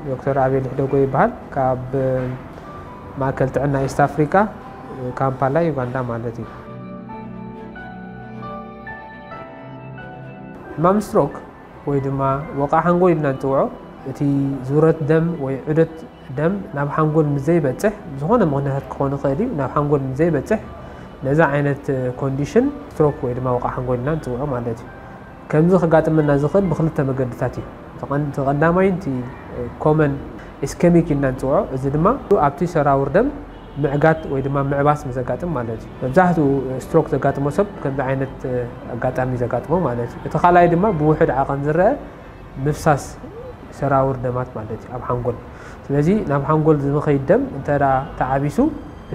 ዶክተር ኣቤል ሕደጎ ይበሃል ካብ ማእከል ጥዕና ኢስት ኣፍሪቃ ካምፓላ ዩጋንዳ ማለት እዩ ሕማም ስትሮክ ወይ ድማ ወቃ ሓንጎል ኢልና ንፅውዖ እቲ ዙረት ደም ወይ ዑደት ደም ናብ ሓንጎል ምዘይበፅሕ ዝኾነ ምክንያታት ክኾን ይኽእል እዩ ናብ ሓንጎል ምዘይበፅሕ ነዚ ዓይነት ኮንዲሽን ስትሮክ ወይ ድማ ወቃ ሓንጎል ኢልና ንፅውዖ ማለት እዩ ከምዚ ከጋጥመና ዝኽእል ብክልተ መገድታት እዩ። እቲ ቀዳማይን እቲ ኮመን ኢስከሚክ ኢልና ንጽውዖ እዚ ድማ ኣብቲ ሰራውር ደም ምዕጋት ወይ ድማ ምዕባስ ምስ ዘጋጥም ማለት እዩ። መብዛሕትኡ ስትሮክ ዘጋጥሞ ሰብ ከምዚ ዓይነት ኣጋጣሚ እዩ ዘጋጥሞ ማለት እዩ። እቲ ካልኣይ ድማ ብውሑድ ዓቐን ዝረኣ ምፍሳስ ሰራውር ደማት ማለት እዩ ኣብ ሓንጎል። ስለዚ ናብ ሓንጎል ዝኸይድ ደም እንተ ተዓቢሱ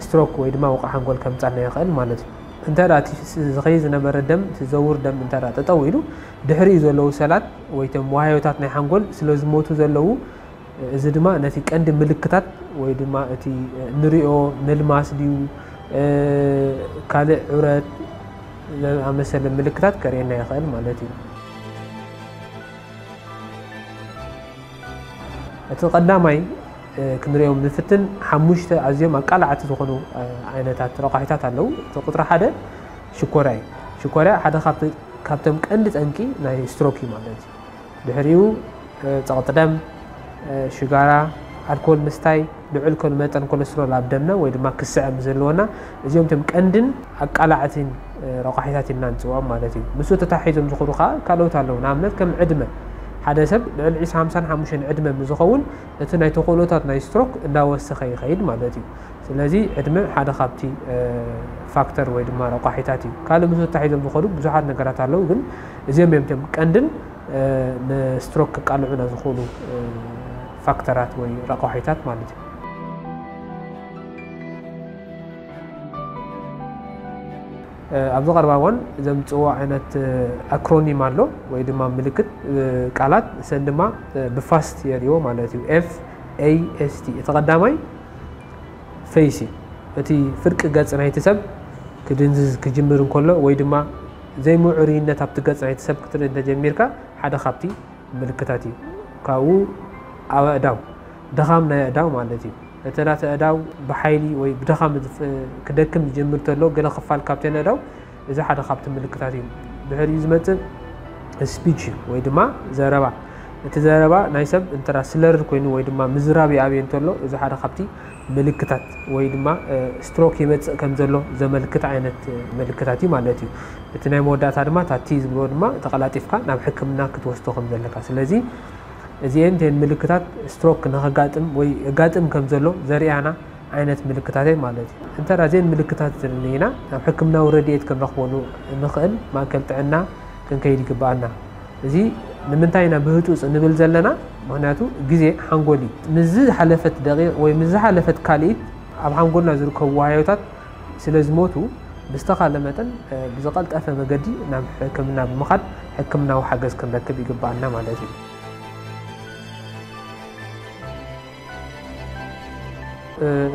ስትሮክ ወይ ድማ ወቕዒ ሓንጎል ከምጻልና ይኽእል ማለት እዩ። እንተ እቲ ዝኸይድ ዝነበረ ደም፣ እቲ ዝዘውር ደም እንተ ጠጠው ኢሉ፣ ድሕሪኡ ዘለዉ ሰላት ወይ እቶም ዋህዮታት ናይ ሓንጎል ስለ ዝሞቱ ዘለዉ፣ እዚ ድማ ነቲ ቀንዲ ምልክታት ወይ ድማ እቲ እንሪኦ ምልማስ ድዩ ካልእ ዑረት ዝኣመሰለ ምልክታት ከርእየና ይኸእል ማለት እዩ። እቲ ቀዳማይ ክንሪኦም ንፍትን ሓሙሽተ ኣዝዮም ኣቃላዕቲ ዝኾኑ ዓይነታት ረቋሒታት ኣለው። እቲ ቁፅሪ ሓደ ሽኮርያ እዩ። ሽኮርያ ሓደ ካብቶም ቀንዲ ጠንቂ ናይ ስትሮክ እዩ ማለት እዩ። ድሕሪኡ ፀቕጢ ደም፣ ሽጋራ፣ ኣልኮል ምስታይ፣ ልዑል ኮል መጠን ኮለስትሮል ኣብ ደምና ወይ ድማ ክስዐ ምስ ዘለወና እዚኦም እቶም ቀንድን ኣቃላዕቲን ረቋሒታት ኢልና ንፅውዖም ማለት እዩ። ንሱ ተታሒዞም ዝኹዱ ከዓ ካልኦት ኣለዉ። ንኣብነት ከም ዕድመ ሓደ ሰብ ልዕሊ 20 55 ዕድመ ምስ ዝኸውን እቲ ናይ ተኽእሎታት ናይ ስትሮክ እንዳወሰኸ ይኸይድ ማለት እዩ። ስለዚ ዕድመ ሓደ ካብቲ ፋክተር ወይ ድማ ረቋሒታት እዩ። ካልእ ምስ ተታሒዞም ዝኸዱ ብዙሓት ነገራት ኣለዉ፣ ግን እዚኦም እዮም እቶም ቀንድን ንስትሮክ ክቃልዑና ዝኽእሉ ፋክተራት ወይ ረቋሒታት ማለት እዩ። ኣብዚ ቀረባ እዋን ዘምጽእዎ ዓይነት ኣክሮኒም ኣሎ ወይ ድማ ምልክት ቃላት ንሰን ድማ ብፋስት የርእዎ ማለት እዩ ኤፍ ኤይ ኤስ ቲ እቲ ቀዳማይ ፈይስ እዩ እቲ ፍርቂ ገጽ ናይቲ ሰብ ክድንዝዝ ክጅምር እንከሎ ወይ ድማ ዘይምዕሩይነት ኣብቲ ገጽ ናይቲ ሰብ ክትርኢ እንተጀሚርካ ሓደ ካብቲ ምልክታት እዩ ካብኡ ኣብ ኣእዳው ድኻም ናይ ኣእዳው ማለት እዩ እተን ኣእዳው ብሓይሊ ወይ ብድኻም ክደክም ዝጀምር ተሎ ገለ ክፋል ካብተን ኣእዳው እዚ ሓደ ካብቲ ምልክታት እዩ። ድሕሪኡ ዝመጽእ ስፒች እዩ ወይ ድማ ዘረባ እቲ ዘረባ ናይ ሰብ እንተራ ስለርድ ኮይኑ ወይ ድማ ምዝራብ ይኣብየ እንተሎ እዚ ሓደ ካብቲ ምልክታት ወይ ድማ ስትሮክ ይመጽእ ከም ዘሎ ዘመልክት ዓይነት ምልክታት እዩ ማለት እዩ። እቲ ናይ መወዳእታ ድማ ታቲ ዝብልዎ ድማ ተቐላጢፍካ ናብ ሕክምና ክትወስዶ ከም ዘለካ ስለዚ እዚኤን እተን ምልክታት ስትሮክ ንኸጋጥም ወይ የጋጥም ከም ዘሎ ዘርእያና ዓይነት ምልክታት እየን ማለት እዩ። እንተ እዘን ምልክታት እተን ርኢና ናብ ሕክምናዊ ረድኤት ክንረኽበሉ እንኽእል ማእከል ጥዕና ክንከይድ ይግብኣና። እዚ ንምንታይ ኢና ብህጹጽ እንብል ዘለና ምኽንያቱ ግዜ ሓንጎል እዩ። ምስ ዝሓለፈት ደቒቕ ወይ ምስ ዝሓለፈት ካልኢት ኣብ ሓንጎልና ዝርከቡ ዋህዮታት ስለ ዝሞቱ ብዝተኻለ መጠን ብዝቐልጠፈ መገዲ ናብ ሕክምና ብምኻድ ሕክምናዊ ሓገዝ ክንረክብ ይግባኣና ማለት እዩ።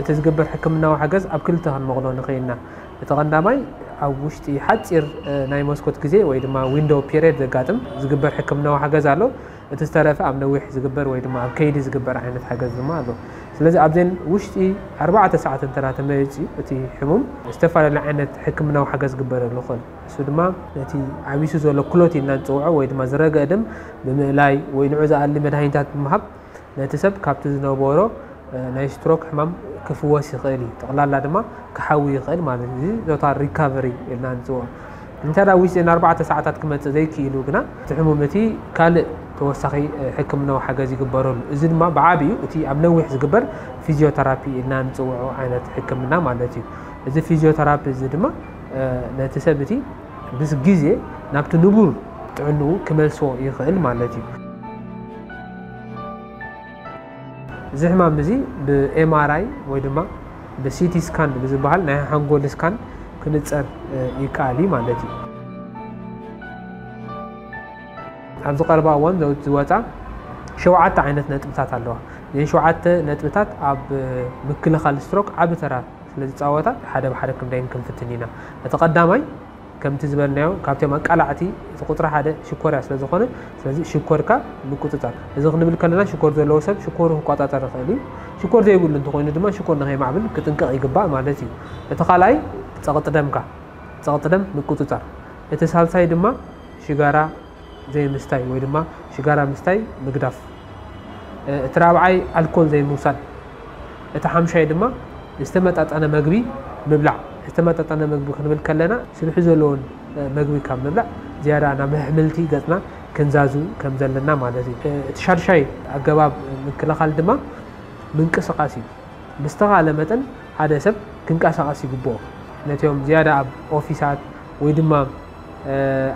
እቲ ዝግበር ሕክምናዊ ሓገዝ ኣብ ክልተ ክንመቕሎ ንኽእል ኢና። እቲ ቀንዳማይ ኣብ ውሽጢ ሓፂር ናይ መስኮት ግዜ ወይ ድማ ዊንዶው ፔሪየድ ዘጋጥም ዝግበር ሕክምናዊ ሓገዝ ኣሎ። እቲ ዝተረፈ ኣብ ነዊሕ ዝግበር ወይ ድማ ኣብ ከይዲ ዝግበር ዓይነት ሓገዝ ድማ ኣሎ። ስለዚ ኣብዘን ውሽጢ ኣርባዕተ ሰዓት እንተ ተመሪፂ እቲ ሕሙም ዝተፈላለዩ ዓይነት ሕክምናዊ ሓገዝ ግበረሉ ይኽእል። እሱ ድማ ነቲ ዓቢሱ ዘሎ ክሎት ኢልና ንፅውዖ ወይ ድማ ዝረገ ደም ብምእላይ ወይ ንዑ ዝኣሊ መድሃኒታት ብምሃብ ነቲ ሰብ ካብቲ ዝነበሮ ናይ ስትሮክ ሕማም ክፍወስ ይኽእል እዩ። ጠቕላላ ድማ ክሓዊ ይኽእል ማለት እዩ። እዚ ቶታል ሪካቨሪ ኢልና ንፅውዖ። እንተ ውሽጢ ኣርባዕተ ሰዓታት ክመጽእ ዘይክኢሉ ግና፣ እቲ ሕሙም እቲ ካልእ ተወሳኺ ሕክምናዊ ሓገዝ ይግበረሉ። እዚ ድማ ብዓቢኡ እቲ ኣብ ነዊሕ ዝግበር ፊዚዮተራፒ ኢልና እንጽውዖ ዓይነት ሕክምና ማለት እዩ። እዚ ፊዚዮተራፒ እዚ ድማ ነቲ ሰብ እቲ ምስ ግዜ ናብቲ ንቡር ጥዕንኡ ክመልሶ ይኽእል ማለት እዩ። እዚ ሕማም እዚ ብኤምኣርኣይ ወይ ድማ ብሲቲ ስካን ብዝበሃል ናይ ሓንጎል ስካን ክንፀር ይከኣል እዩ ማለት እዩ። ኣብዚ ቀረባ እዋን ዝወፃ ሸውዓተ ዓይነት ነጥብታት ኣለዋ እዘን ሸውዓተ ነጥብታት ኣብ ምክልኻል ስትሮክ ዓቢ ተራ ስለዝፃወታ ሓደ ብሓደ ክንደይን ክንፍትን ኢና እቲ ቀዳማይ ከምቲ ዝበልናዮ ካብቶም ኣቃላዕቲ እቲ ቁፅሪ ሓደ ሽኮርያ ስለዝኾነ ስለዚ ሽኮርካ ምቁፅፃር እዚ ክንብል ከለና ሽኮር ዘለዎ ሰብ ሽኮሩ ክቆፃፀር ይኽእል እዩ። ሽኮር ዘይብሉ እንተኾይኑ ድማ ሽኮር ንከይማዕብል ክጥንቀቕ ይግባእ ማለት እዩ። እቲ ካልኣይ ፀቕጢ ደምካ ፀቕጢ ደም ምቁፅፃር እቲ ሳልሳይ ድማ ሽጋራ ዘይምስታይ ወይ ድማ ሽጋራ ምስታይ ምግዳፍ። እቲ ራብዓይ ኣልኮል ዘይምውሳድ። እቲ ሓምሻይ ድማ ዝተመጣጠነ መግቢ ምብላዕ። ዝተመጣጠነ መግቢ ክንብል ከለና ስብሒ ዘለዎን መግቢ ካብ ምብላዕ ዝያዳ ናብ ኣሕምልቲ ገጽና ክንዛዙ ከም ዘለና ማለት እዩ። እቲ ሻድሻይ ኣገባብ ምክልኻል ድማ ምንቅስቃስ እዩ። ብዝተኻለ መጠን ሓደ ሰብ ክንቀሳቀስ ይግብኦ። ነቲኦም ዝያዳ ኣብ ኦፊሳት ወይ ድማ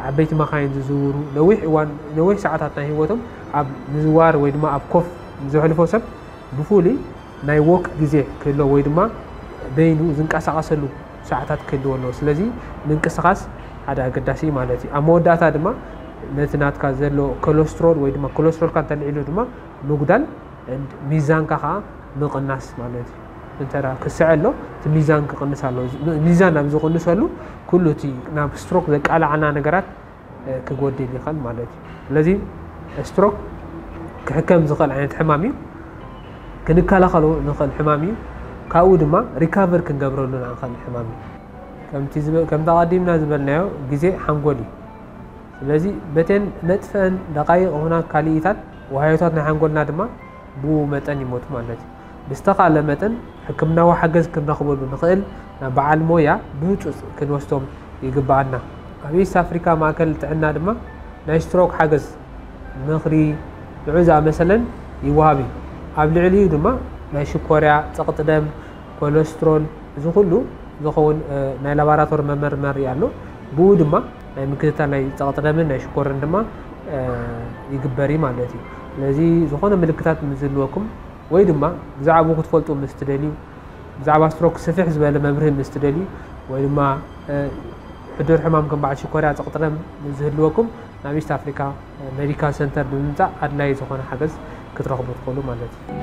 ዓበይቲ መኻይን ዝዝውሩ ነዊሕ እዋን ነዊሕ ሰዓታት ናይ ህይወቶም ኣብ ምዝዋር ወይ ድማ ኣብ ኮፍ ዘሕልፎ ሰብ ብፍሉይ ናይ ዎክ ግዜ ክህሎ ወይ ድማ በይኑ ዝንቀሳቐሰሉ ሰዓታት ክህልዎ ኣለዎ ስለዚ ምንቅስቓስ ሓደ ኣገዳሲ ማለት እዩ ኣብ መወዳእታ ድማ ነቲ ናትካ ዘሎ ኮለስትሮል ወይ ድማ ኮለስትሮልካ እንተልዒሉ ድማ ምጉዳል ሚዛንካ ከዓ ምቕናስ ማለት እዩ እንተደኣ ክስዐሎ እቲ ሚዛን ክቕንስ ኣለዎ። ሚዛን ኣብ ዝቕንሰሉ ኩሉ እቲ ናብ ስትሮክ ዘቃላዓና ነገራት ክጎድል ይኽእል ማለት እዩ። ስለዚ ስትሮክ ክሕከም ዝኽእል ዓይነት ሕማም እዩ። ክንከላኸሎ ንኽእል ሕማም እዩ። ካብኡ ድማ ሪካቨር ክንገብረሉ ንኽእል ሕማም እዩ። ከምቲ ከምቲ ኣቐዲምና ዝበልናዮ ግዜ ሓንጎል እዩ። ስለዚ በተን ነጥፈን ደቃይቕ ኹና ካልኢታት ወሃዮታት ናይ ሓንጎልና ድማ ብኡ መጠን ይሞቱ ማለት እዩ። ብዝተኻእለ መጠን ሕክምናዊ ሓገዝ ክንረኽበሉ ንኽእል ናብ በዓል ሞያ ብህፁፅ ክንወስዶም ይግበኣና። ኣብ ኢስት ኣፍሪካ ማእከል ጥዕና ድማ ናይ ስትሮክ ሓገዝ፣ ምኽሪ፣ ንዑ ዝኣመሰለን ይወሃብ እዩ። ኣብ ልዕሊኡ ድማ ናይ ሽኮርያ፣ ፀቕጢ ደም፣ ኮለስትሮል እዚ ኩሉ ዝኸውን ናይ ላባራቶሪ መመርመሪ ኣሎ። ብኡ ድማ ናይ ምክትታል ናይ ፀቕጢ ደምን ናይ ሽኮርን ድማ ይግበር እዩ ማለት እዩ። ስለዚ ዝኾነ ምልክታት ምስ ዝህልወኩም ወይ ድማ ብዛዕባኡ ክትፈልጡ ምስ ትደልዩ ብዛዕባ ስትሮክ ስፍሕ ዝበለ መብርሂ ምስ ትደልዩ ወይ ድማ ሕዱር ሕማም ከም በዓል ሽኮርያ ፀቕጥረም ዝህልወኩም ናብ ኢስት ኣፍሪካ ሜዲካል ሰንተር ብምምፃእ ኣድላዪ ዝኾነ ሓገዝ ክትረኽቡ ትኽእሉ ማለት እዩ